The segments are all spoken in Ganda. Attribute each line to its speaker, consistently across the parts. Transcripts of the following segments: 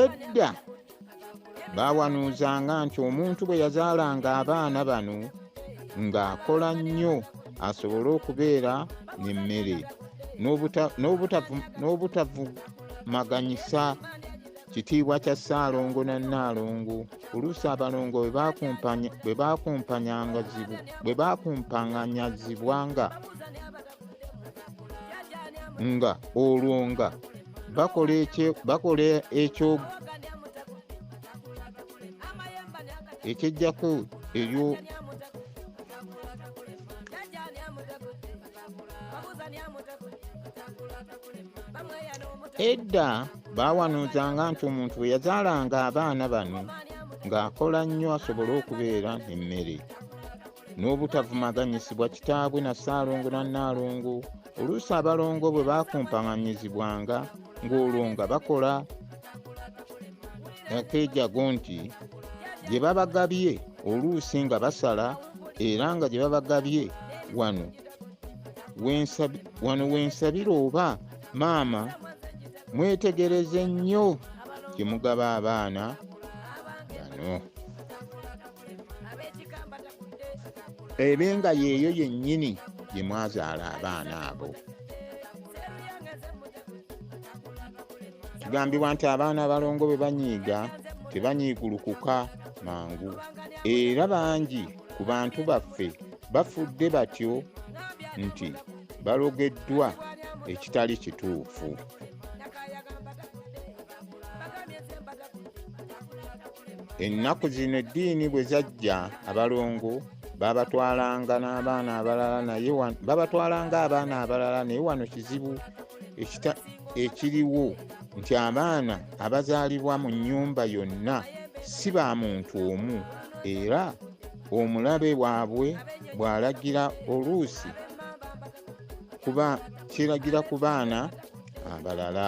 Speaker 1: edda baawanuuzanga nti omuntu bwe yazaalanga abaana bano ng'akola nnyo asobole okubeera n'emmere n'obutavumaganyisa kitiibwa kya ssaalongo na nnaalongo oluusi abalongo bwe baakumpanganyazibwanga nga olwo nga bakola ekyo ekyejjako eryo edda baawanuuzanga nti omuntu bwe yazaalanga abaana bano ng'akola nnyo asobole okubeera emmere n'obutavumaganyisibwa kitaabwe na ssaalongo na nnaalongo oluusi abalongo bwe baakumpaganyizibwanga ng'olwo nga bakola akeejago nti gye babagabye oluusi nga basala era nga gye babagabye wano wano wensabira oba maama mwetegereze nnyo gye mugaba abaana bano ebe nga yeeyo yennyini gye mwazaala abaana abo kigambibwa nti abaana abalongo bwe banyiiga tebanyiigulukuka mangu era bangi ku bantu baffe bafudde batyo nti balogeddwa ekitali kituufu ennaku zino eddiini bwe zajja abalongo babatwalanga n'abaana abalala naye babatwalanga abaana abalala naye wano kizibu ekiriwo nti abaana abazaalibwa mu nnyumba yonna si ba muntu omu era omulabe waabwe bw'alagira oluusi kuba kiragira ku baana abalala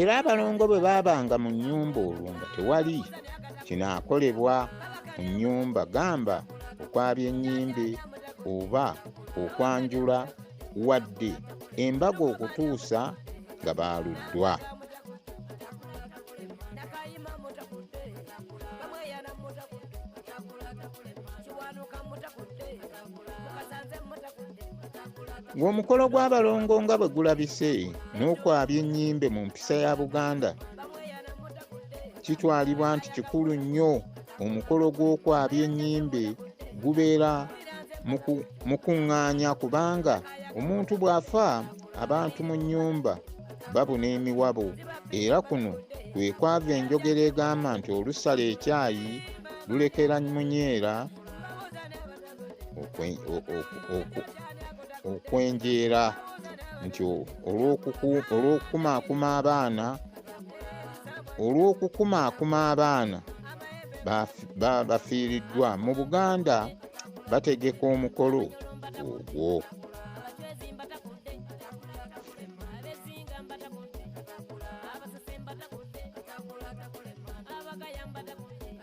Speaker 1: era abalongo bwe baabanga mu nnyumba olwo nga tewali kinaakolebwa mu nnyumba gamba okwabya ennyimbe oba okwanjula wadde embaga okutuusa nga baaluddwa ng'omukolo gw'abalongo nga bwe gulabise n'okwabya ennyimbe mu mpisa ya buganda kitwalibwa nti kikulu nnyo omukolo gw'okwabya ennyimbe gubeera mukuŋŋaanya kubanga omuntu bw'afa abantu mu nnyumba babuna emiwabo era kuno kwe kwava enjogera egamba nti olusala ekyayi lulekera munyeera okwenjeera nti olw'okukumaakuma abaana olw'okukumaakuma abaana bafiiriddwa mu buganda bategeka omukolo ogwo